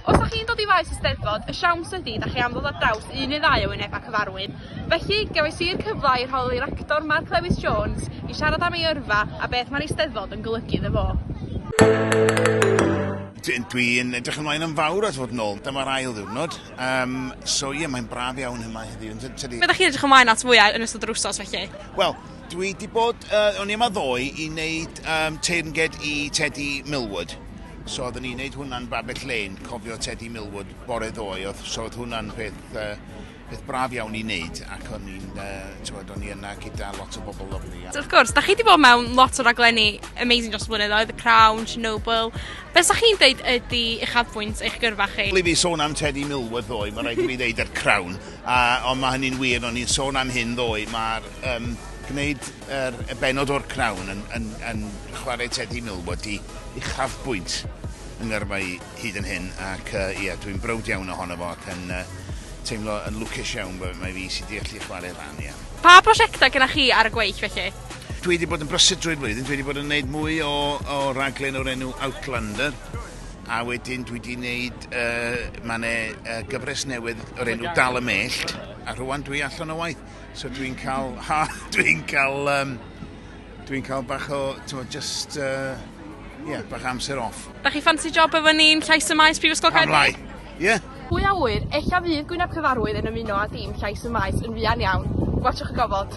Os da chi'n dod i faes y Steddfod, y siawns ydi da chi am ddod ar draws un neu ddau o wynebau cyfarwydd. Felly, gefais i'r cyfle i holi Rector Mark Lewis Jones i siarad am ei yrfa a beth mae'r Eisteddfod yn golygu iddo fo. Dwi'n edrych ymlaen yn fawr at fod nôl. Dyma'r ail ddiwrnod. Um, so ie, yeah, mae'n braf iawn yma heddiw. Tydi... Be da chi'n edrych ymlaen at fwyau yn ystod yr wsos felly? Wel, dwi di bod, uh, o'n i yma ddoe i wneud um, teirnged i Teddy Millwood. So oeddwn i'n neud hwnna'n Babbage Lane, cofio Teddy Millwood bore ddoe, oedd, so oedd hwnna'n peth, uh, peth braf iawn i wneud, ac o'n i'n, uh, tywed, o'n i yna gyda lot o bobl lyflu. So, wrth gwrs, da chi wedi bod mewn lot o raglenni amazing dros flynyddoedd, The Crown, Chernobyl. Be sa chi'n deud ydy uchafbwynt eich gyrfa chi? Ble fi sôn am Teddy Millwood ddoe, mae rhaid i mi ddeud yr Crown, a, ond mae hynny'n wir, o'n i'n sôn am hyn ddoe, mae'r um, gwneud Yr y bennod o'r Crown yn yn yn chware Teddy Millward i uchafbwynt yng ngyrfa i hyd yn hyn ac yy ie dwi'n browd iawn ohono fo ac yn yy teimlo yn lwcus iawn bo' mae fi sy 'di allu chware rhan ia. Pa brosiecta gynna chi ar y gweill felly? Dwi 'di bod yn brysur drwy'r flwyddyn dwi 'di bod yn neud mwy o o raglen o'r enw Outlander a wedyn dwi 'di neud yy ma' 'ne yy gyfres newydd o'r enw Dal y Mellt a rhŵan dwi allan o waith. So dwi'n cael, ha, dwi'n cael, um, dwi'n cael bach o, ti'n just, uh, yeah, bach amser off. Da chi ffansi job efo ni'n llais y maes Prifysgol Caerdydd? Pam lai, ie. Yeah. Pwy a wyr, eich a fydd Gwyneb Cyfarwydd yn ymuno â dim llais y maes yn fuan iawn. Gwachwch y gofod.